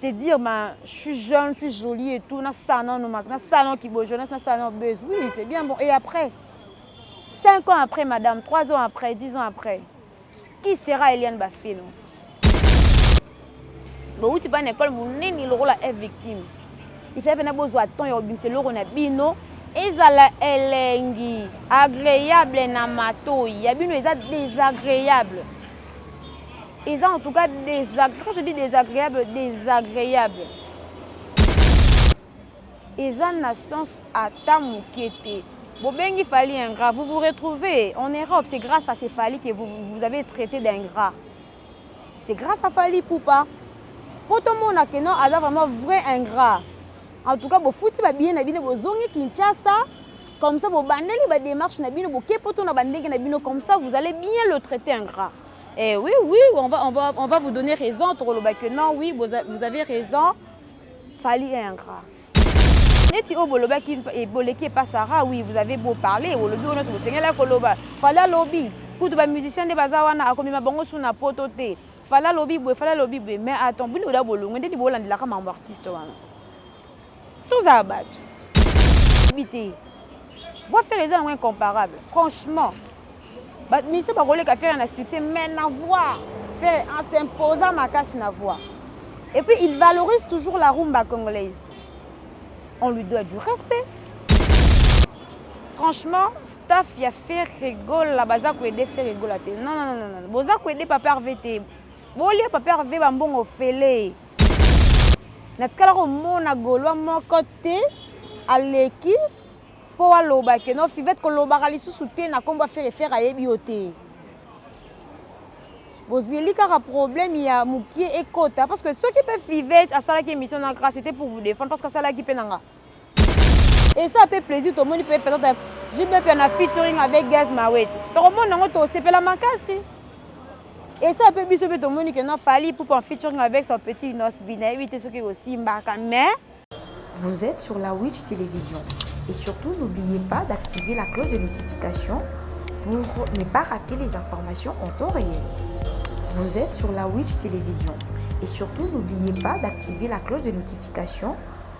te dire ma je suis jeune, je suis jolie et tout, na salon no na salon qui beau jeunesse, na salon buzz. Oui, c'est bien bon. Et après 5 ans après madame, 3 ans après, 10 ans après. Qui sera Eliane Bafino? bowuti bana ekole monene lokola e victime esali mpena bozwa temps ya kobimisa eloko na bino ezala elengi agréable na matoi ya bino eza désagréable eza en tout cas désag... quand je dis désagréable désagréable eza na sens ata moke te bobengi fali ingrat vous vous retrouvez en europe c'est grâce à ces fali que vous, vous avez traité d'ingrat c'est grâce à fali poupa mpo tomona ke non aza vraiment vrai ingrat en tout cas bofuti babiye na bino bozongi kinshasa Comme ça, vous bandez les démarches, na bino, vous kepoto na bandege na bino, comme ça, vous allez bien le traiter ingrat. Eh oui, oui, on va, on va, on va vous donner raison, Toroloba, que non, oui, vous, a, vous avez raison. Fali est ingrat. neti oyo bolobaki boleki epa sara oui vous avez beau parler olobi oyo nyonso bosengela koloba fali alobi kutu bamusicien nde baza wana akomema bango su na poto te fali alobi boye fali alobi boye mais attend bino oda bolongwe nde ni bolandelaka mambo artiste wana tozala bato bi te voix fere eza yango incomparable franchement bamiso bakoleka fere na succès mais na voix fere en s'imposa makasi na voix et puis il valorise toujours la rumba congolaise on lui doit du respect franchement staff ya fere gola baza koede fere gola te non non non boza koede papa rv te bolia papa rv bambongo ofele natikala komona golwa moko te aleki mpo aloba ke no fivete kolobaka lisusu te na nkombo ya fere fere ayebi yo te bozeli kaka problème ya mokie ekota parce que soki mpe fivete asalaki émission na grâce te pour vous défendre parce que asalaki mpe na nga esa pe plaisir tomoni pe peut-être jbp na featuring avec gaz mawete tokomona yango tosepela makasi esa pe biso pe tomoni ke non fali poupe en featuring avec son petit inos bi nayebi te soki ekosimbaka mais Vous êtes sur la Witch Télévision et surtout n'oubliez pas d'activer la cloche de notification pour ne pas rater les informations en temps réel. Vous êtes sur la Witch Télévision et surtout n'oubliez pas d'activer la cloche de notification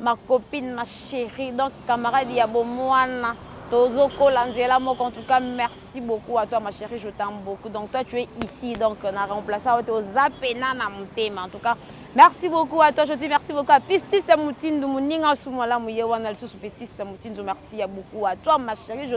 Ma copine, ma chérie, donc camarade ya bomwana, tozo kola nzela moko. En tout cas, merci beaucoup à toi, ma chérie, je t'aime beaucoup. Donc toi, tu es ici, donc na remplaçant au toza pena na mutema. En tout cas, merci beaucoup à toi, je dis merci beaucoup à Pistis Mutindu, muninga sumala muye wana lisusu Pistis Mutindu, merci beaucoup à toi, ma chérie, je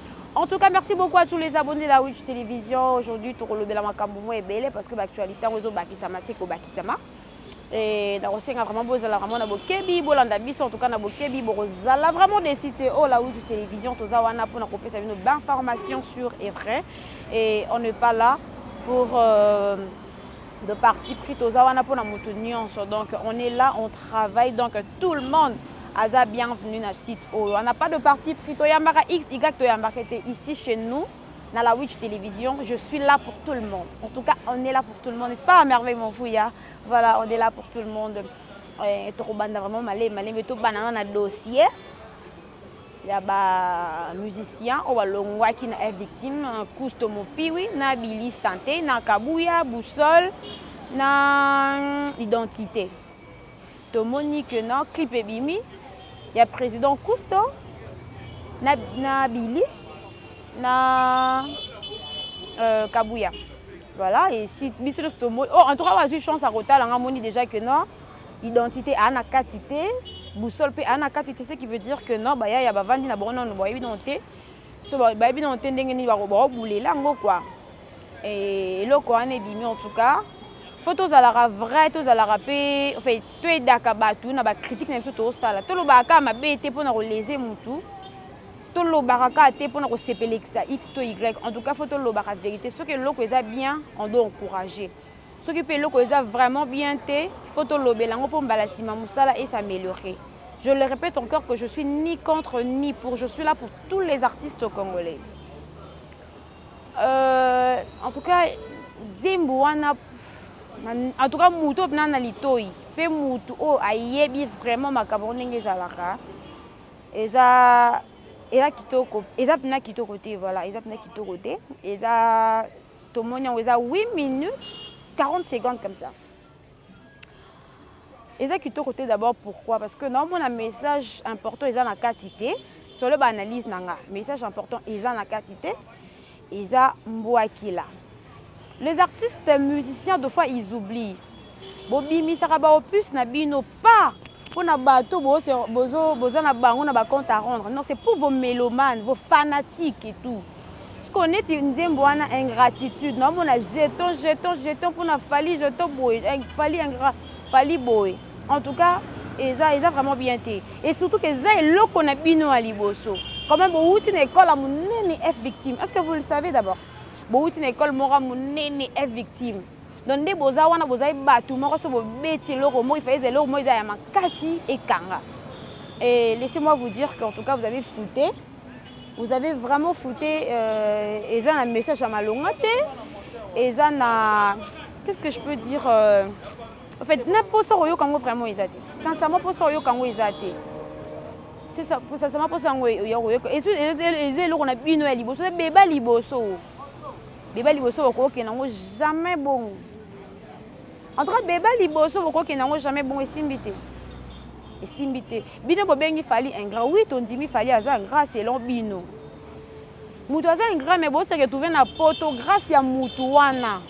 En tout cas, merci beaucoup à tous les abonnés de la Witch Télévision. Aujourd'hui, tu relèves la makambo moi belé parce que l'actualité on zo bakisama c'est ko bakisama. Et na kosenga vraiment bo zala vraiment na bokebi bo landa biso en tout cas na bokebi bo zala vraiment des sites oh la Witch Télévision to za wana pona ko pesa bino d'informations sur et vrai et on n'est pas là pour euh, de parti pris toza wana mpona moto nyonso donc on est là on travaille donc tout le monde aza bienvenu na site oyo wana pas de parti pris toyambaka x y toyambaka te ici chez nous na la witch télévision je suis là pour tout le monde en tout cas on est là pour tout le monde n'est-ce pas merveille mon fouya voilà on est là pour tout le monde eh, tokobanda vraiment malemi malemi tobanana na dossier ya ba musiciens oyo balongwaki na F Victime, Cousto Mopiwi na Billy Sante na Kabuya, Boussole na Identite. Tomoni que non clip ebimi ya président Cousto na, na Billy na euh, Kabuya. Voilà, et si biso tomoni oh, en tout cas bazwi chance ya kotala nga moni déjà que non identité aa na kati te boussole mpe aa na kati te ce qui veut dire que non bayaya bavandi na bango nano bayebi nano te so bayebi nano te ndenge nini bakobulela yango kua eh, eloko wana ebimi en tout cas fo tozalaka vrai tozalaka mpe enfin toyedaka bato na bacritique na biso tozosala tolobaka kaka mabe te mpo na kolese motu tolobaka kaka te mpo na kosepelekisa x to y en tout cas fo tolobaka verité soki eloko eza bien on doit encourager Soki pe eloko eza vraiment bien te, faut tolobela yango po mbala sima musala e s'ameliorer. Je le repète encore que je suis ni contre ni pour, je suis là pour tous les artistes congolais. Euh, en tout cas, Zimbu wana en tout cas mutu oyo na na litoyi mpe mutu oyo ayebi vraiment makambo yango ndenge ezalaka eza eza kitoko eza mpena kitoko te voilà eza mpena kitoko te eza tomoni yango eza 8 minutes 40 secondes comme ça eza kitoko te d'abord pourquoi parce que naomona message important eza na kati te solo baanalyse na nga message important eza na kati te eza mbwakila les artistes musiciens de fois ils oublient bobimisaka ba opus na bino pas pona bato boza na bango na ba compte à rendre non c'est pour vos mélomanes vos fanatiques et tout sikoyo neti nzembo wana ingratitude naomona jeton jeton jeton mpona fali jeton boye eh, fali ingra fali boye en tout cas eza eza vraiment bien te et surtout que eza eloko na bino ya liboso quand même bowuti na ekole ya monene f victime est ce que vous le savez d'abord bowuti na ekole moko ya monene f victime donc nde boza wana bozali bato moko so bobeti eloko moko ifaeza eloko moko eza ya makasi ekanga et laissez moi vous dire qu'en tout cas vous avez fouté vous avez vraiment fouté euh, eza na message ya malonga te eza na qu'est-ce que je peux dire euh, en fait na mposa koyoka yango vraiment eza te sincèrement mposa koyoka yango eza te sincèrement mposa yango ya koyoka eza eloko na bino ya liboso ebeba liboso Deba liboso bokokende yango jamais bongo. En tout cas deba liboso bokokende yango jamais bongo esimbi te. Esimbi te. Bino bobengi Fally ingrat. Oui tondimi Fally aza ingrat selon bino. Mutu aza ingrat mais bo se retrouver na poto grâce ya mutu wana.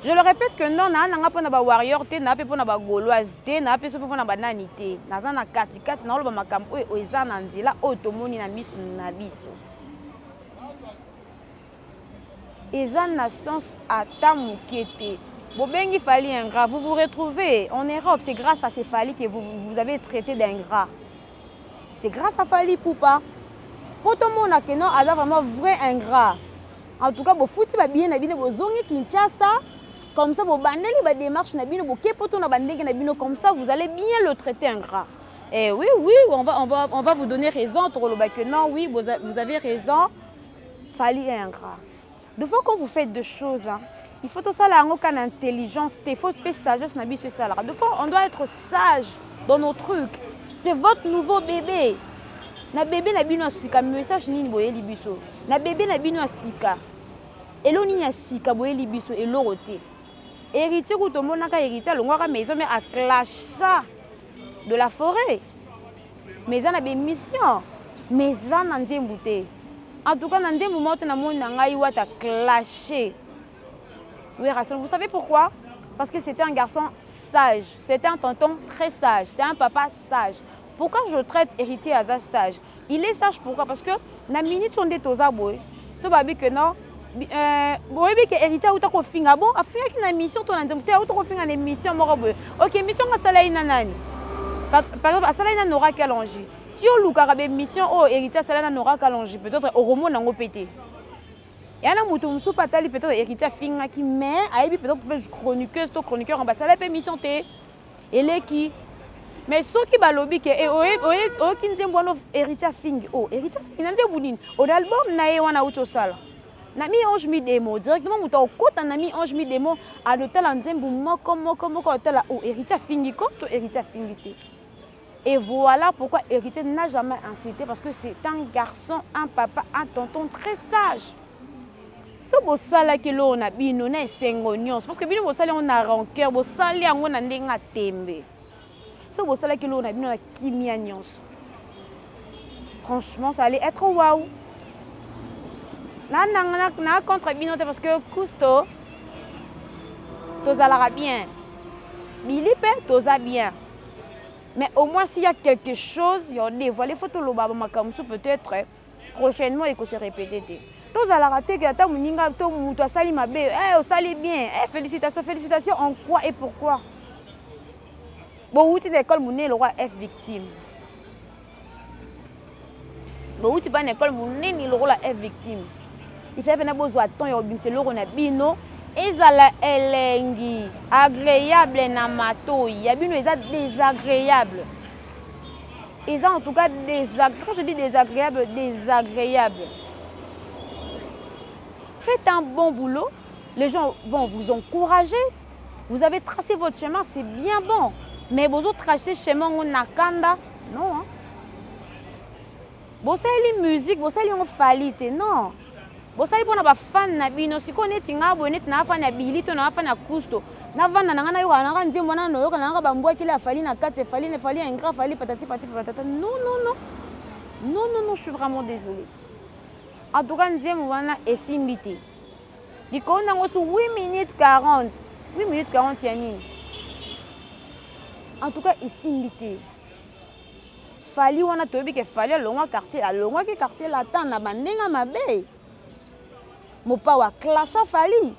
Je le répète que non na nanga pona ba warrior te na pe pona ba gauloise te na pe so pona ba nani te. Naza na kati kati na oloba makambo oyo eza na nzela oyo tomoni na misu na biso. Eza na sens ata muke te. Bobengi Fally ingrat, vous vous retrouvez en Europe, c'est grâce à ce Fally que vous, vous avez traité d'ingrat. C'est grâce à Fally Poupa. Po tomona que non, aza vraiment vrai ingrat. En tout cas, bofuti ba billets na bino bozongi Kinshasa. Comme ça, bobandeli ba démarche na bino, boke poto na bandenge na bino, comme ça vous allez bien le traiter ingrat. Eh oui, oui, on va, on va, on va vous donner raison. Tokoloba que non, oui, vous, vous avez raison. Fali est ingrat. De fois qu'on vous fait deux choses, hein, il faut tout ça là, aucune intelligence, il faut une sagesse, n'a bisu ça là. De fois, on doit être sage dans nos trucs. C'est votre nouveau bébé. Na bébé na bino asika message nini boye libiso. Na bébé na bino asika. Elo nini asika boye libiso eloro te. Héritier kutomonaka héritier alongwaka maison mais a clasha de la foret mais eza na bemission mais eza na nzembu te en tout cas na nzembu moko te namoni na ngai wata clashe werrason vous savez pourquoi parce que c'était un garçon sage c'était un tonton très sage c'est un papa sage pourquoi je traite héritier aza sage Il est sage pourquoi parce que na minute oyo nde toza boye so babi que non euh, boyebi ke hérité auta kofinga bon afingaki na émission to na nzembo te auta kofinga na émission moko boye ok émission ngo asala ye na nani par exemple asala ye na nora kalongi ti olukaka baémission oyo hérité asala na nora kalongi peut-être okomona yango mpe te ya na moto mosusu mpe atali peut-être hérité afingaki mais ayebi peut-être mpe chroniqueuse to chroniqueur basala mpe émission te eleki mais soki balobi ke eh, oyoki nzembo wana héritier afingi o oh, héritier afingi na nzembo nini o na album na ye wana auti osala na mi ange mi demo directement moto akokota na mi ange mi demo alotala nzembo moko moko moko atala o oh, héritier afingi ko to héritier afingi te Et voilà pourquoi héritier n'a jamais incité parce que c'est un garçon, un papa, un tonton très sage. so bosalaki eloko na bino na esengo nyonso parce que bino bosali yango na rancœur bosali yango na ndenge ya tembe so bosalaki eloko na bino na kimia nyonso franchement ça allait être waouh na contre bino te parce que kusto tozalaka bien bili mpe toza bien mais au moins s'il y a quelque chose ya odevoile faut toloba bamakambo mosusu peut-être prochainement eko se répéter te tozalaka te ke ata moninga to moto asali mabe hey, eh, osali bien hey, eh, félicitation félicitation en quoi et pourquoi bowuti na ekole monene lokwa f victime bowuti mpa na ekole monene lokola e victime esali mpena bozwa temps ya kobimisa eloko na bino ezala elengi agreable na matoi ya bino eza désagréable eza en tout cas quand je dis désagréable désagréable faites un bon boulot les gens vont vous encourager. Vous avez tracé votre chemin, c'est bien bon. Mais vous avez tracé chemin on a kanda. Non. Hein? Vous avez les musique, vous avez les falite. Non. Vous avez pour les fans na bino, si vous êtes nga boné, tu n'as pas na billy, tu n'as pas na cousto. Na vanda na ngana yoka na ngana nzembo na noyoka na ngana bambwa kila fali na kati fali ne fali ingra fali patati patati patata. Non non non. Non non non, je suis vraiment désolée. En tout cas, nzembo wana esimbi te. likolo nango su 8 minutes 40 8 minutes 40 ya nini en tout cas esimbi te fali wana toyebi ke fali alongwa quartier alongwaki quartier latin na bandenge mabe mopawa clasha fali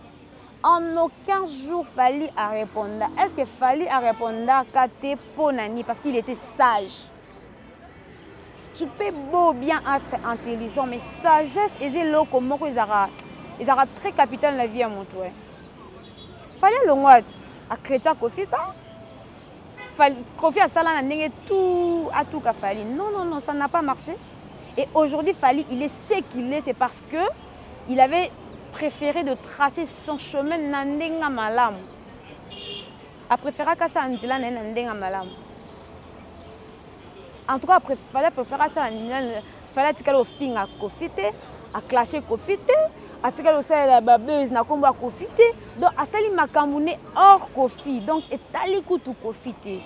en aucun jour fali areponda est ce que fali arepondaka te mpo na nini parce qu'il était sage tu peux beau bien être intelligent mais sagesse eza eloko moko ezalaka ezalaka très capital na vie ya moto e fali alongwa ati akretia kofi ta kofi asala na ndenge tout atuka fali non non non ça n'a pas marché et aujourd'hui fali il est ce qu'il est c'est parce que il avait préféré de tracer son chemin na ndenge malamu A preferaka asala nzela na ye na ndenge ya malamu. En tout cas, fallait a prefere asala nzela, fallait atikala ofinga Koffi te, a clashe Koffi te, atikala osalela ba buzz na kombo ya Koffi te. Donc asali makambo ne hors Koffi. Donc etali kutu Koffi te.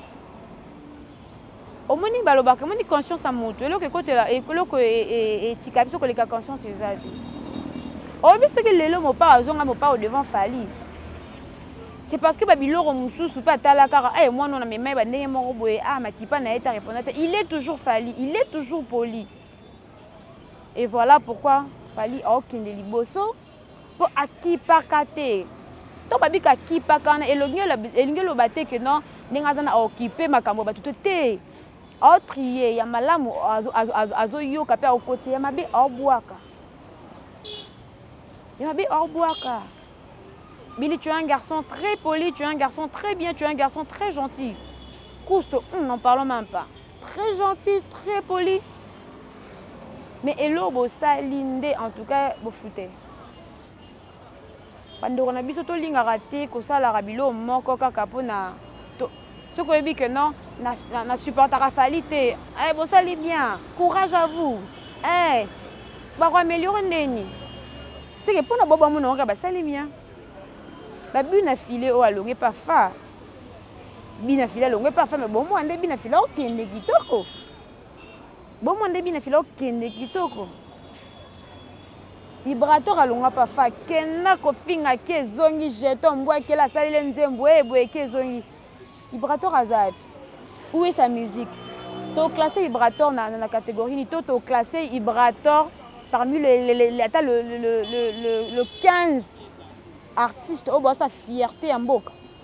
Omoni balobaka omoni conscience ya moto eloko ekotela eloko e, e, e, etika biso koleka conscience eza te oyebi soki lelo mopao azonga mopao devant fali c'est parce que babiloko mosusu mpe atala kaka aye eh, mwana oyo na mema ye bandenge moko boye a ah, makipa na ye ta reponda te il est toujours fali il est toujours poli et voilà pourquoi fali aokende liboso Po akipaka te. Tango ba bika akipaka wana elongi elingi eloba te que non ndenge aza na occupe makambo ya batu te te. Ao trier ya malamu azo yoka pe akotia ya mabe ao bwaka. Ya mabe ao bwaka. Billy tu es un garçon très poli, tu es un garçon très bien, tu es un garçon très gentil. Couste, hum, n'en parlons même pas. Très gentil, très poli. Mais eloko bosali nde en tout cas bofute. Bandeko na biso tolingaka te kosalaka biloko moko kaka mpo na soki oyebi que non na, na, na supportaka fali te eh, bosali bien courage à vous eh, bakoameliore ndeni seke mpo na bobo amonaka basali bien babu na file oyo alongi pafa Bina fila longwe pa femme bomwa nde bina fila okende kitoko. Bomwa nde bina fila okende kitoko. Vibrator alongwa pa fa kenda kofinga ke ezongi jeton mbwa kela asalele nzembo e eh, boye ke ezongi. Vibrator aza wapi? Où est sa musique? To classe Vibrator na, na, na catégorie ni to to classe Vibrator parmi le, le, le, le, ata le, le, le, le, le 15 artiste oyo basa fierté ya mboka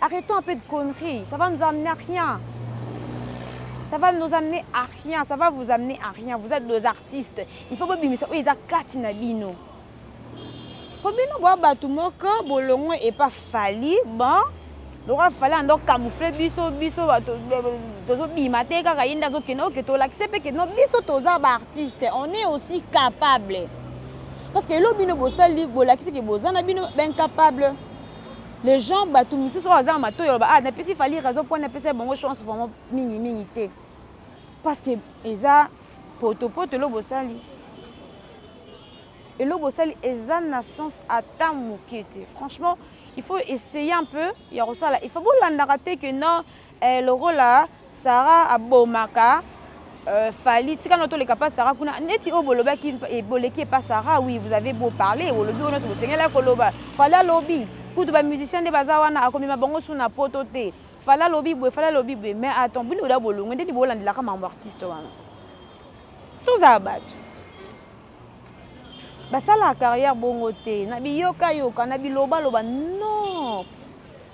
Arrêtons un peu de conneries. Ça va nous amener à rien. Ça va nous amener à rien. Ça va vous amener à rien. Vous êtes des artistes. Il faut bobimisa oyo eza kati na bino. Po bino bo bato moko bolongo et pas fali. Bon, lokola fali ando camoufler biso biso bato tozobima te kaka ye nde azokende oke tolakise mpe kende biso toza baartiste on est aussi capable parce que elo bino bosali bolakisi ke boza na bino baincapable Les gens batu misusu oyo azanga matoyi oloba ah napesi Fally raison mpo napesa bango chance vraiment mingi mingi te parce que eza poto poto elo bosali elo bosali eza na sens ata moke te franchement il faut essayer un peu ya kosala il faut bolandaka te que non Eh lokola Sarah abomaka Fally tika no toleka pa Sarah kuna neti oyo bolobaki boleki pa Sarah oui vous avez beau parler bolobi oyo nyonso bosengelaki koloba Fally alobi kutu ba musiciens nde baza wana akomema bango su na poto te Fally alobi boye Fally alobi boye mais attends bino oda bolongwe nde bolandelaka mambo artiste wana tozala bato basalaka carrière bongo te na biyokayoka na bilobaloba non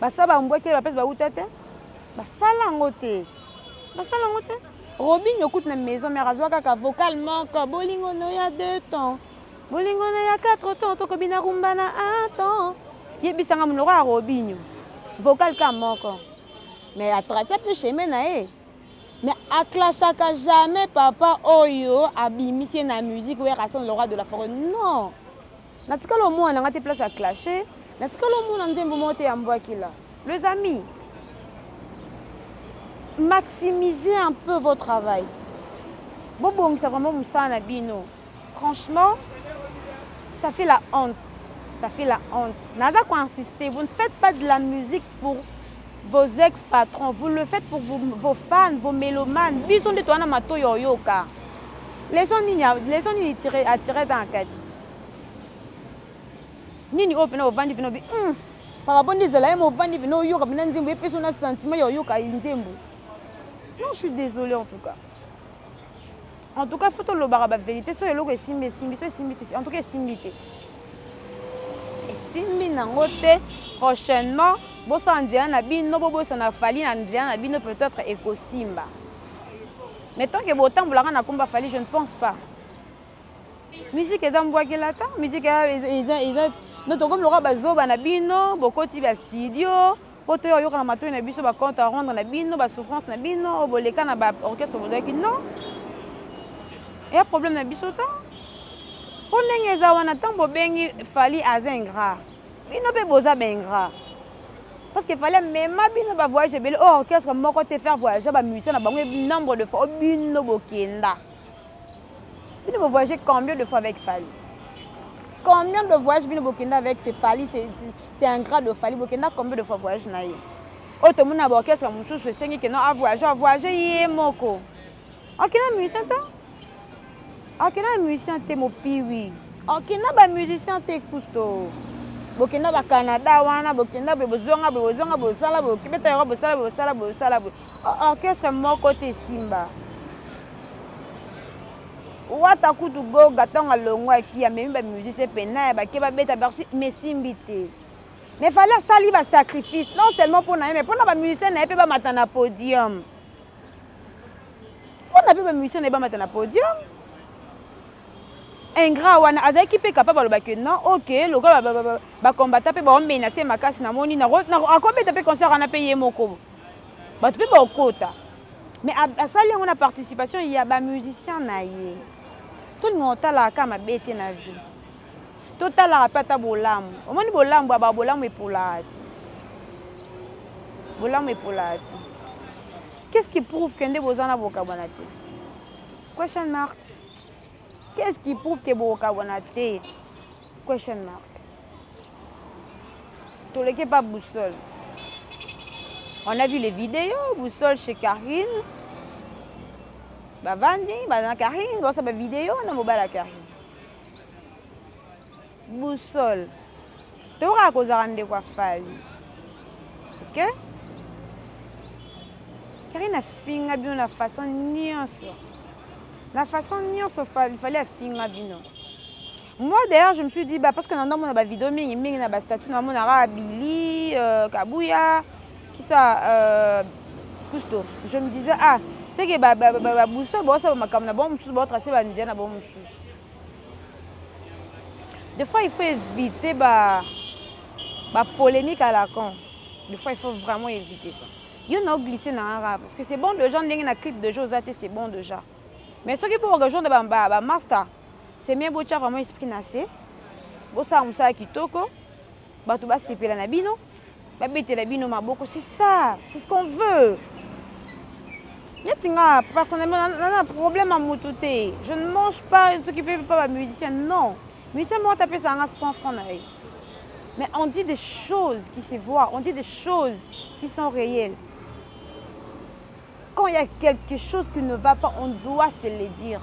Basa ba mbwekele ba pète ba uta te. Basala yango te. Basala yango te. Robinho kutu na maison mère azwa kaka vocal moko bolingo no ya 2 temps. Bolingo no ya 4 temps tokobi na rumba na 1 temps. Yebisa nga monoko ya Robinho. Vocal ka moko. Mais a tracer peu chemin na ye. Mais a clashaka jamais papa oyo abimisi ye na musique werrason le roi de la forêt. Non. Natikala omona nanga te place ya clashe natikala omona nzembo moko te ya mbwakila les amis maximisez un peu vos travail bobongisa vraiment mosala na bino franchement ça fait la honte ça fait la honte naza koinsiste vous ne faites pas de la musique pour Vos ex patrons vous le faites pour vous, vos fans, vos melomanes. Biso nde toana matoyi ya oyoka. Leçon nini leçon nini tire a tire dans kati. Nini oyo pena ovandi pena bi mm. Papa bondi ezala ye movandi pena oyoka pena nzembo epesi na sentiment ya oyoka nzembo. Non, je suis désolée en tout cas. en tout cas faut tolobaka baverité soki eloko esimbi esimbi so esimbi te en tout cas esimbi te esimbi nango te prochainement bosala nzela na bino bobosana fali na nzela na bino peut-être ekosimba mais tant ke botambolaka na komba fali je ne pense pas musique eza mbwakelata musique eza no tokomi lokola bazoba na bino bokoti ba studio Po toya koyoka na matoyi na biso ba compte à rendre na bino, ba souffrances na bino, oyo boleka na ba orchestre bozalaki non. Eya problème na biso te. Po ndenge eza wana tango bobengi Fally aza ingrat. Bino pe boza ba ingrat. Parce que fallait mema bino ba voyage ebele o orchestre moko te faire voyager ba musiciens na bango nombre de fois o bino bokenda. Bino bo voyager combien de fois avec Fally? Combien de voyages bino bokenda avec ce Fally, c'est un grand de Fally, bokenda combien de fois voyage na ye? Oyo tomoni na orchestre mosusu esengi que non a voyager, a voyager ye moko. Akenda musicien te? Akenda musicien te mopiwi. Akenda ba musicien te kusto. Bokenda ba Canada wana, bokenda boye bozonga boye bozonga bosala boye beta yango bosala boye bosala boye bosala boye. Orchestre moko te esimba. Wata kutu Goga ntango alongwaki amemi ba musiciens pena ya bake babeta bercy mais esimbi te. Mais fallait asali ba sacrifice non seulement mpo na ye mais mpo na ba musiciens na ye mpe bamata na podium. Mpo na mpe ba musiciens na ye bamata na podium. ingrat wana azalaki mpe capable aloba que non ok lokola bacombata mpe baomenace makasi namoni akobeta mpe concert wana mpe ye moko Batu pe bakokota. Mais asali yango na participation ya ba musiciens na ye. Tolingaka kotalaka kaka mabe te na vie. Totalaka pe ata bolamu. Omoni bolamu ya ba bolamu epolaka te. Bolamu epolaka te. Qu'est-ce qui prouve que nde boza na bokabwana te? Question mark. Qu'est-ce qui prouve que bokabwana te? Question mark. Toleki epa boussole. On a vu les vidéos, boussole chez Karine. Bavandi, baza na Karine, baosa ba vidéo na mobali ya Karine. Boussole. Tokaka kozala ndeko ya Fally. Ok? Karine afinga bino na façon nyonso. Na façon nyonso Fally afinga bino. Moi d'ailleurs je me suis dit bah parce que nando mona ba vidéo mingi mingi na ba statut na mona ka Billy, euh, Kabuya, qui ça euh, Cousteau. Je me disais ah, c'est que ba ba ba, ba boussole ba ça makambo na bango mosusu ba tracer ba ndia na bango mosusu. Des fois il faut éviter ba ba polémique à la con. Des fois il faut vraiment éviter ça. Yo na glisser na rap parce que c'est bon déjà ndenge na clip de Josate c'est bon déjà. Mais soki pour rejoindre ba, ba, ba master, c'est mieux botia vraiment esprit na se, bosala mosala kitoko, bato basepela na bino, babetela bino maboko, c'est ça, c'est ce qu'on veut. neti nga personnellement naza na problème ya motu te je ne mange pas soki mpe mpa bamusicien non musicien moko tapesa yanga 100 franc na ye mais on dit des choses qui se voient on dit des choses qui sont réelles Quand il ya quelque chose qui ne va pas on doit se le dire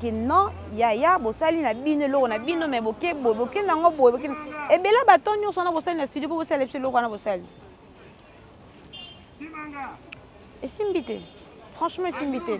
que non yaya bosali na bino eloko na bino mais boke boye boke nango boye boke ebele baton nyonso wana bosali na studio mpo bosala biso eloko wana bosali esimbi te franchement esimbi te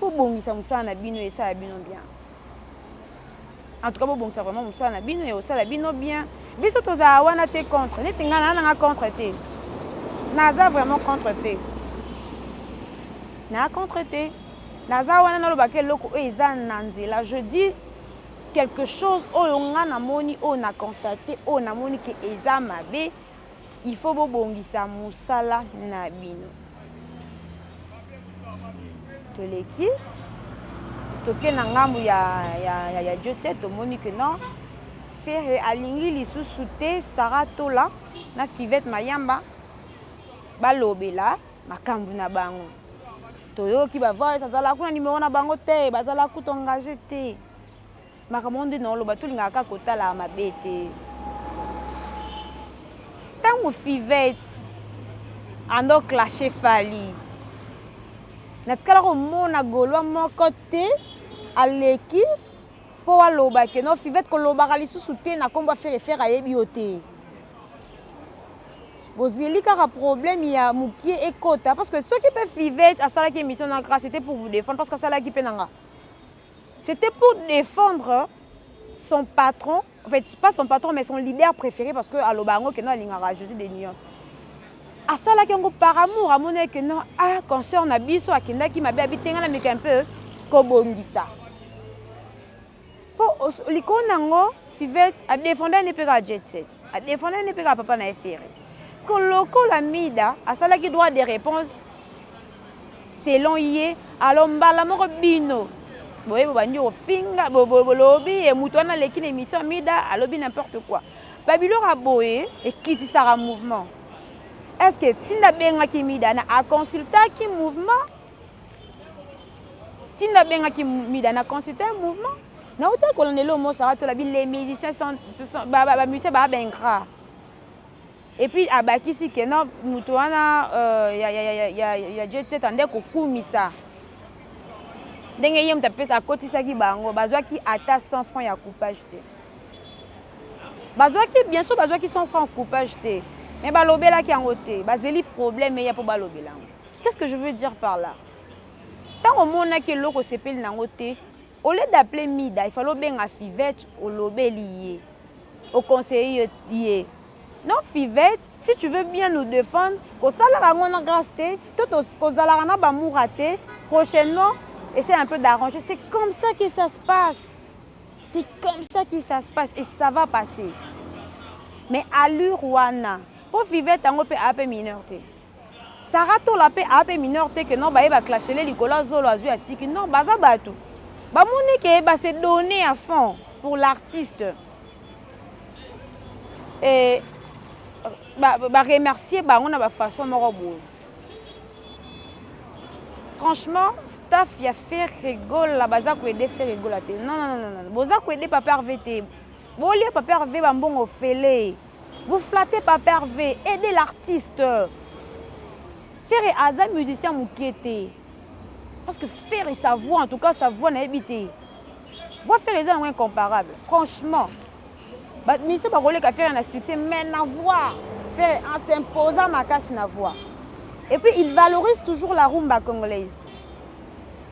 bobongisa mosala na bino esala bino bien en tout cas bobongisa vraiment mosala na bino ekosala bino bien biso tozala wana te contre neti ngai naa nanga contre te naza vraiment contre te naa contre te naza wana nalobaka eloko oyo eza na nzela je dis quelque chose oyo ngai namoni oyo na constate oyo namoni ke eza mabe Il faut bobongisa musala na bino. Toleki toke na ngambo ya, ya, ya, ya Jotse tomoni que non Ferre alingi lisusu te Sarah Tola na Fivette Mayamba balobela makambo na bango. Toyoki ba voice azala kuna numero na bango te, bazala kutu engage te. makambo wana nde naoloba tolingaka kaka kotalaka mabe te ntango fivete ando clashe fali natikala komona golwa moko te aleki mpo aloba ke no fivete kolobaka lisusu te na nkombo ya fere fere ayebi yo te bozeli kaka problème ya mokie ekota parce que soki mpe fivete asalaki émission na grâce ete pour vous défendre parce que asalaki mpe na nga C'était pour défendre son patron, en fait, pas son patron, mais son leader préféré, parce que Alobango, que non, Lingara, Jésus des Nuances. asalaki yango par amour amonaki que non ah concert na biso akendaki mabe abitenga na meka un peu kobongisa mpo likolo na yango fivete adefenda ne mpe kaka jet set adefenda ne mpe kaka papa na ye fere parceke lokola mida asalaki droit de réponse selon ye alors mbala moko bino boye bobandi kofinga bolobi ye moto wana aleki na émission ya mida alobi n'importe quoi babiloko ya boye ekitisaka mouvement est ce que ntina abengaki mida na aconsultaki mouvement ntina abengaki mida na consulta mouvement nauta kolandela omosaka tolabi les musiciens bamusicien baa baingrat Et puis abakisi que non moto wana euh, ya, ya, ya, ya, ya, ya Jet Set ande kokumisa ndenge ye moto apesa akotisaki bango bazwaki ata 100 francs ya coupage te bazwaki bien sûr bazwaki 100 francs coupage te mais balobelaki yango te bazeli problème eya mpo balobela yango qu'est-ce que je veux dire par là ntango omonaki eloko osepeli na yango te au lieu d'appeler mida ifale obenga fivette olobeli ye oconseille ye Non fivette si tu veux bien nous defendre kosalaka yango na grace te to kozalaka na ba mura te prochainement essaie un peu d'arranger c'est comme ça que ça se passe c'est comme ça que ça se passe et ça va passer mais allure wana mpo fivette yango mpe ape mineur te Sarah tola pe a pe mineur te que non baye ba clashele likolo ya zolo azui atiki non baza batu bamoni ke ba se donner à fond pour l'artiste et ba, ba remercier bango na ba façon moko boye franchement staff ya ferre gola baza koede ferre gola te non, non, non, non. boza koede papa rv te bolia papa rv bambongo ofele Vous flattez papa Hervé, aidez l'artiste. Ferre aza musicien mokie te. Parce que Ferre sa voix en tout cas sa voix nayebi te. Voix Ferre eza yango incomparable. Franchement. Ba musicien bakoleka Ferre na succès mais na voix Ferre en s'imposant makasi na voix. Et puis il valorise toujours la rumba congolaise.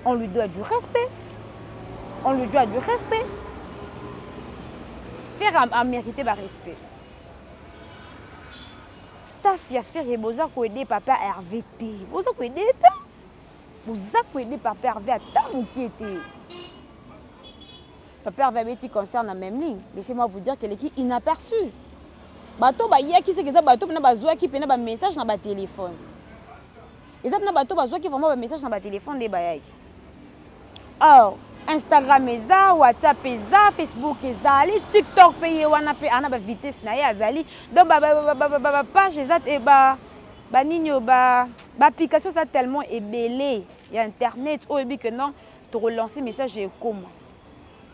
On lui doit du respect. On lui doit du respect. Ferre a, a mérité ba respect. Staff ya Ferre boza ko aider papa Hervé te. Boza ko aider te. Boza ko aider papa Hervé ata mokie te. Papa Hervé abeti concert na même ligne. Laissez-moi vous dire qu'elle est inaperçue. Bato bayaki seke eza bato mpena bazwaki mpena ba message na ba téléphone. eza na bato bazwaki vraiment bamessage na batelefone nde bayaki or instagram eza whatsapp eza facebook ezali tiktok mpe ye wana mpe ana bavitesse na ye azali donc bapage eza te banini oyo baapplication eza tellement ebele ya internet oyo ebi que non tokolancer message ekoma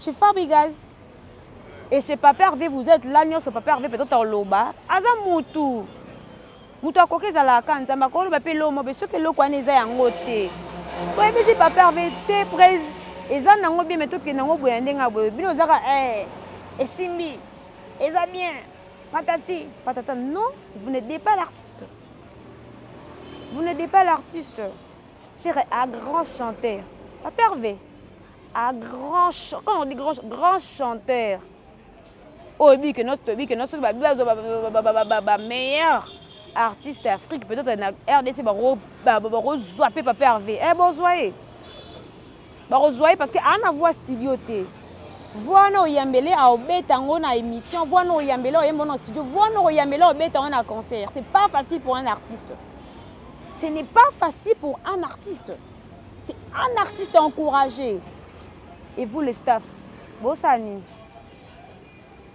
chez Fabregas. Et chez Papa Hervé, vous êtes là, nionso Papa Hervé peut-être oloba. Aza mutu. Mutu akoki ezala ka nzamba ko loba pe lomo be soki eloko wana eza yango te. Ko ebisi Papa Hervé te prez eza nango bien mais to kende ngo boya ndenga boye. Bino ozaka eh esimbi. Eza bien. Patati, patata. Non, vous n'êtes pas l'artiste. Vous n'êtes pas l'artiste. Ferre a grand chanteur. Papa Hervé a grand chanteur. Quand on dit grand, grand chanteur. Oyo bi que notre bi que notre ba bazo ba ba ba ba ba meilleur artiste Afrique peut-être na RDC ba ba ba ko zwa pe Papa Hervé. Eh bon zwa ye. Bakozua ye parce que a na voix studio te. Voix na oyambele a obeta ngo na emission, voix na oyambele oyembo na studio, voix na oyambele obeta ngo na concert. C'est pas facile pour un artiste. Ce n'est pas facile pour un artiste. C'est un artiste encouragé. Et vous les staff, bosani.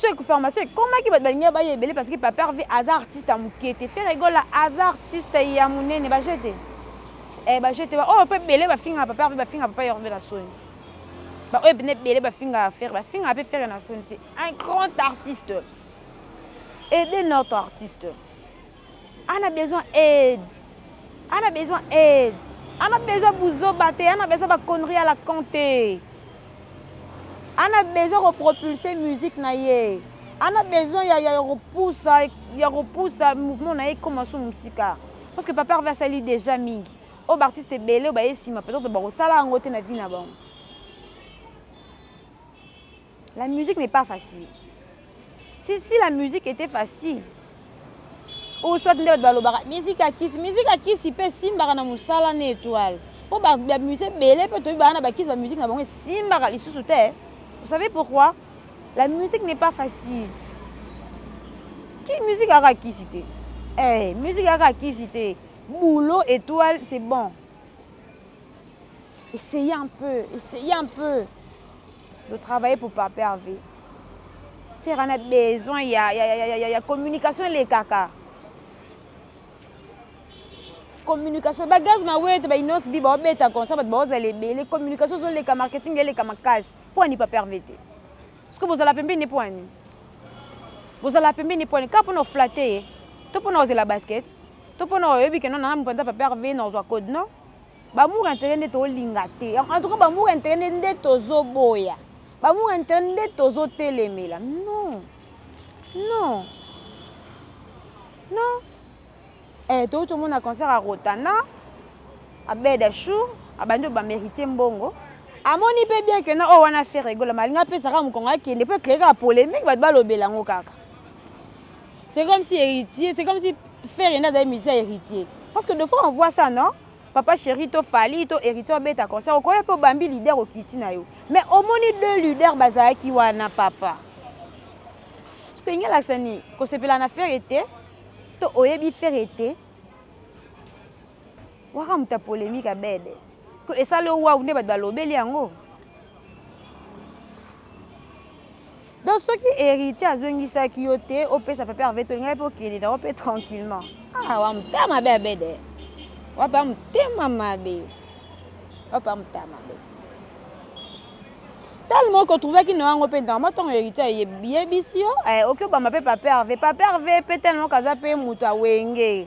so pharmacie ekomaki bato balingi baya ebele parce que papa herve aza artiste ya moke te fere egola aza artiste ya monene baje te eh, baje te baoyo oh, mpe ebele bafingaka papa herve bafingaka papa herve na soni baoyo mpena ebele bafingaka fere bafingaka mpe fere na soni c'est un grand artiste ede notre artiste Ana besoin aide. Ana besoin aide. Ana besoin buzoba te, ana besoin ba conneries à la con te. Ana besoin ko propulser musique na ye. Ana besoin ya ya kopusa ya kopusa mouvement na ye koma su musika. Parce que papa Hervé asali déjà mingi. Oyo ba artistes ebele oyo baye sima peut-être bakosala yango te na vie na bango. La musique n'est pas facile. Si, si la musique était facile, ou soit nde bato balobaka musique ya kisi musique ya kisi mpe esimbaka na mosala na étoile mpo bamusicien ebele mpe toyebi baa na bakisi bamusike na bango esimbaka lisusu te vous savez pourquoi la musique n'est pas facile ki musique kaka kisi te eh, musique kaka kisi te boulot étoile c'est bon essayez un peu essayez un peu de travailler pour Papa Hervé. Ferre a besoin, il y a, y, a, y, a, y, a, y a communication les caca. communication ba gaz mawete ba inos bi baobeta konsa bato baozala ebele communication ezoleka marketing eleka makasi mpo ani Papa Hervé te soki bozala pembeni mpo ani bozala pembeni mpo ani kaka mpo na oflate ye to mpo na ozela basket to mpo na oyebi keno nanga mpenza Papa Hervé na ozwa code non Bamour intérêt nde tolinga te. En tout cas bamour intérêt nde nde tozo boya. Bamour intérêt nde tozo telemela. Non. Non. Non. Eh to to mona concert à Rotana. À Bedachou, à bande ba mériter mbongo. Amoni pe bien que na o oh, wana faire rigolo malinga pe saka mukonga kende pe créer la polémique ba ba lobela ngo kaka. C'est comme si héritier, c'est comme si Ferre nda azali musicien héritier. Parce que de fois on voit ça, non? Papa chéri to Fally to héritier obeta concert okoya mpe obambi leader okiti na yo. Mais omoni deux leaders bazalaki wana papa. Soki elingi alakisa nini? Kosepela na Ferre te to oyebi Ferre te waka moto ya polemique abede esali yo wawu nde bato balobeli yango donc soki héritier azongisaki yo te opesa papa herve tolingai mpe okende nango mpe tranquillement ah, wa motema mabe abede wapa motema mabe wapa motema mabe tali moko otrouvaki na yango mpe ntango ntango héritier ayebisi yo eh, oki obamba mpe papa herve papa herve mpe tali moko aza mpe moto awenge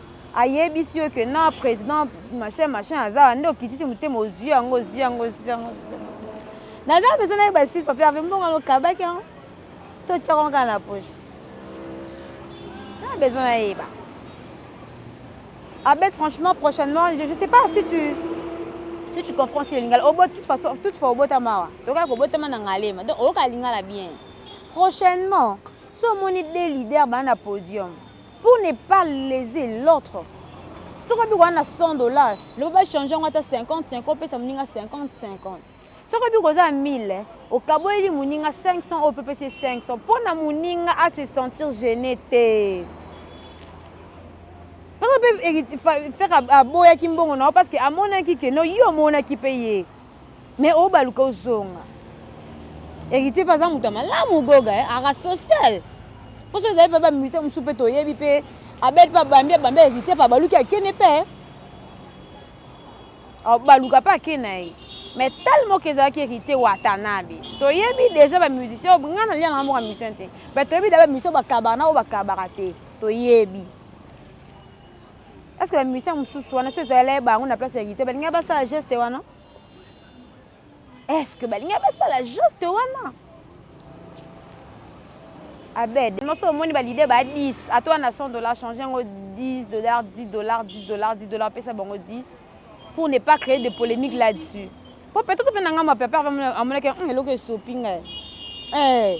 ayebisi yo que non président machin machin aza wana nde okitisi motema ozwi yango ozwi yango ozwi yango naza mpenza nayeba sili papier ape mbongo yango okabaki yango totyaka yango kaka na poche na besoin nayeba abet franchement prochainement je ne sais pas si tu si tu comprends si lingala obo toute façon toute fois obotama awa okaka kobotama na ngalema donc oyoka lingala bien prochainement so omoni de leader baa na podium pour ne pas leser l'autre soki obiki wana na 100 dollar loba bachange yango ata 50 50 opesa moninga 50 50 soki obiki oza ya 1000 okaboyeli moninga 500 oyo mpe opesi 500 mpo na moninga a se sentir gene te mpe fere aboyaki mbongo na yo parce que amonaki ke no yo omonaki mpe ye Mais obaluka ozonga. Héritier pe aza moto ya malamu goga eh, aka social. Poso ezali pe ba musiciens mosusu pe toyebi pe Abel pe abambi abambi Héritier pe abaluki akende pe. Eh. Abaluka pe ake na ye. Mais tellement que ezalaki Héritier Watanabe. Toyebi déjà ba musiciens, nga na lia na moko musicien te. Mais toyebi déjà ba musiciens bakabana oyo bakabaka te. Toyebi. Est-ce que ba musiciens mususu wana so ezalala bango na place ya guitare balinga basala geste wana Est-ce que balinga basala geste wana Abed moso omoni ba leader ba 10 ato wana 100 dollars changer yango 10 dollars 10 dollars 10 dollars 10 dollars pesa bango 10 pour ne pas créer de polémique là-dessus po peut-être mpe na ngambo ya papa amonaki hmm, eloko esopi ngai eh.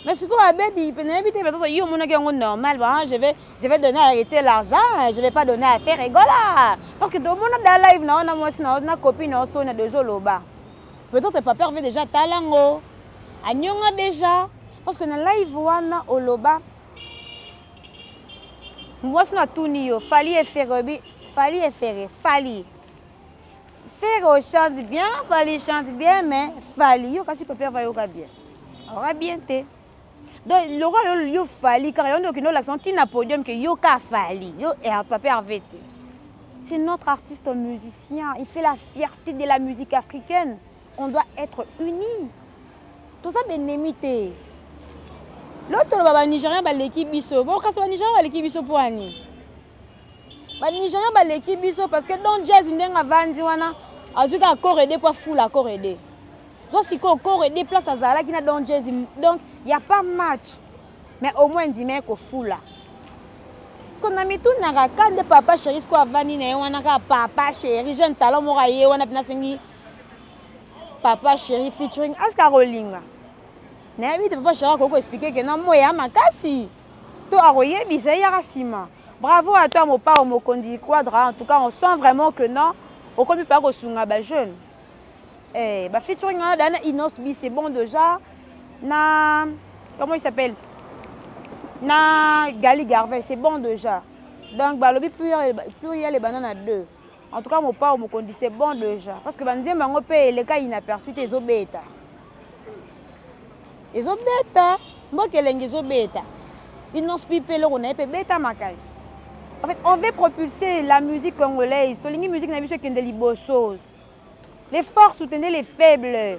mais sikoyo abebi mpe nayebi te peut-être yo omonaki yango normal ba je vais je vais donner à héritier l'argent je vais pas donner à faire egola parce que tomona da live na wana mwasi na na copine na osona deja oloba peut-être papa herve déjà atala ngo anyonga déjà parce que na live wana oloba mwasi na tuni yo fali efere oyebi fali efere fali Ferre chante bien, Fally chante bien, mais Fally yo kasi papa va yoka bien. Aura bien te. Donc lokola yo yo Fally kaka yo ndoki no l'accent ti na podium que yo ka Fally, yo et eh, papa Hervé te. C'est notre artiste musicien, il fait la fierté de la musique africaine. On doit être unis. Tout ça ben te. L'autre ba Nigérian baleki biso. Bon kasi ba Nigérian baleki biso pour ani. Ba Nigerian baleki biso parce que Don Jazz ndenge avandi wana azwi kaka corps aidé mpo afula corps aidé. Zo sikoyo corps aidé place azalaki na Don Jazz donc y a pas match mais au moins ndima ye kofula. Siko na mitunaka ka nde papa chéri siko avandi na ye wana kaka papa chéri jeune talent moko aye wana mpe nasengi papa chéri featuring aska kolinga nayebi te papa chéri akoki koexplike ke na moya makasi To akoyebisa ye yaka sima. Bravo à toi Mopao Mokonzi Quadra en tout cas on sent vraiment que non okomi pa kosunga ba jeunes eh ba featuring wana dana Innos B c'est bon déjà na comment il s'appelle na Gali Garvey c'est bon déjà donc balobi pluriel ebanda na deux En tout cas Mopao Mokondi c'est bon déjà parce que banzembo yango mpe eleka inaperçu te ezobeta ezobeta mboka elengi ezobeta inonce pi mpe eloko na ye mpe ebeta makasi en fait on veut propulser la musique congolaise tolingi musique na biso ekende liboso les forts soutenez les faibles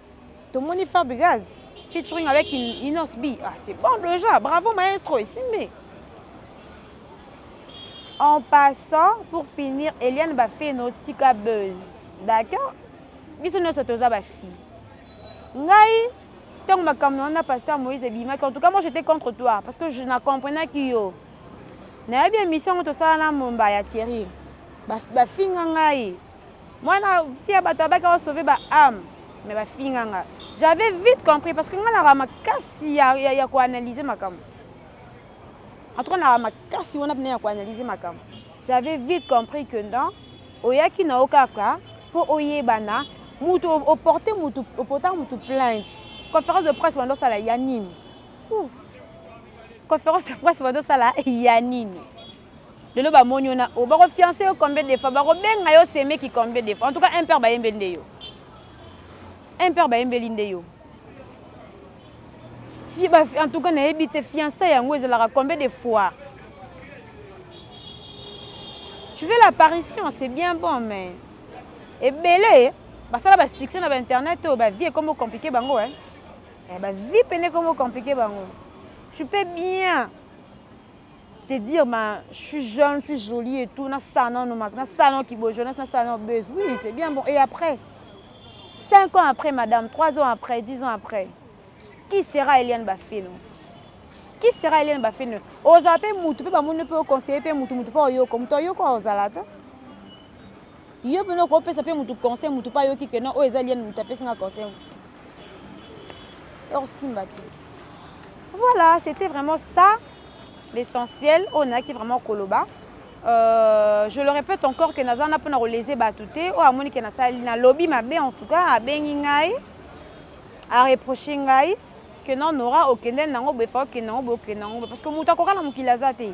tomoni Fabregas featuring avec Inos B. Ah, c'est bon déjà, bravo maestro, esimbi. En passant, pour finir, Eliane Bafeno tika buzz. D'accord biso nyonso toza bafille ngai ntango makambo na wana pasteur moïse ebimaki en tout cas moi j'étais contre toi parce que je na comprenaki yo nayebi émission yango tosala na momba ya thierry bafinga ngai Mwana fille ya bato abaki ao sauver ba âme mais ba finga nga. J'avais vite compris parce que nga naka makasi ya, ya, ya ko analyser makambo. En tout cas naka makasi wana pena ya ko analyser makambo. J'avais vite compris que non oyaki na yo kaka mpo oyebana mutu oporte mutu opota mutu plainte conférence de presse wanda osala ya nini conférence de presse wanda osala ya nini Lelo ba moni yo na o bako fiance yo combien de fois bako benga yo semeki combien de fois en tout cas impère ba yembeli nde yo impère ba yembeli nde yo si ba en tout cas na yebi te fiance yango ezalaka combien de fois tu veux l'apparition c'est bien bon mais ebele basala ba succès na ba internet oyo ba vie ekomo compliqué bango hein eh, ba vie pene ekomo compliqué bango tu peux bien te dire ma je suis jeune, je suis jolie et tout, na salon no na salon qui beau jeunesse, na salon buzz. Oui, c'est bien bon. Et après 5 ans après madame, 3 ans après, 10 ans après, qui sera Eliane Bafino Qui sera Eliane Bafino Oza pe mutu pe ba moni pe conseiller pe mutu mutu pe oyoko, mutu oyoko ozala te. Yo pena oko pesa pe mutu conseil mutu pa yoki que non oyo eza lien mutu apesi nga conseil. Or simba te. Voilà, c'était vraiment ça l'essentiel oyo nayaki vraiment koloba. Euh, je le répète encore que naza na pona kolese batu te oyo amoni ke nasali na lobi mabe en tout cas abengi ngai a reprocher ngai que non Nora okende nango boye fa okende nango boye okende nango parce que mutu akoka na mokili aza te.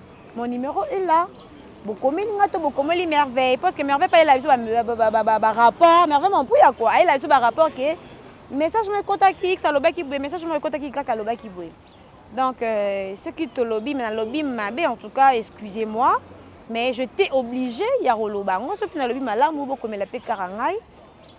Mon numero est là. bokomeli nga to bokomeli merveille parce que merveille payela biso barapport merveille mampuya kua ayela biso barapport ke message mo ekotaki x alobaki boye message mo ekotaki y alobaki boye donc euh, soki tolobi me nalobi mabe en tout cas excusez moi mais je t'ai obligé ya koloba yango soki nalobi malamu bokomela mpe kaka ngai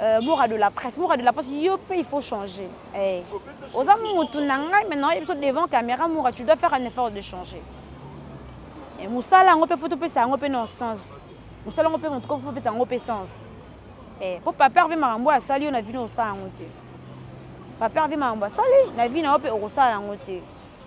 Euh, mora de la presse mora de la presse yo mpe il faut changer hey. Eh, oza motu na ngai maintenant oyebi so devant caméra mora tu dois faire un effort de changer hey, eh, mosala yango mpe fo topesa yango mpe non sens mosala yango mpe motu ko fopesa yango mpe sens hey, eh, mpo papa herve makambo oyo asali yo na vino osala yango te papa herve makambo asali na vi na yo mpe okosala yango te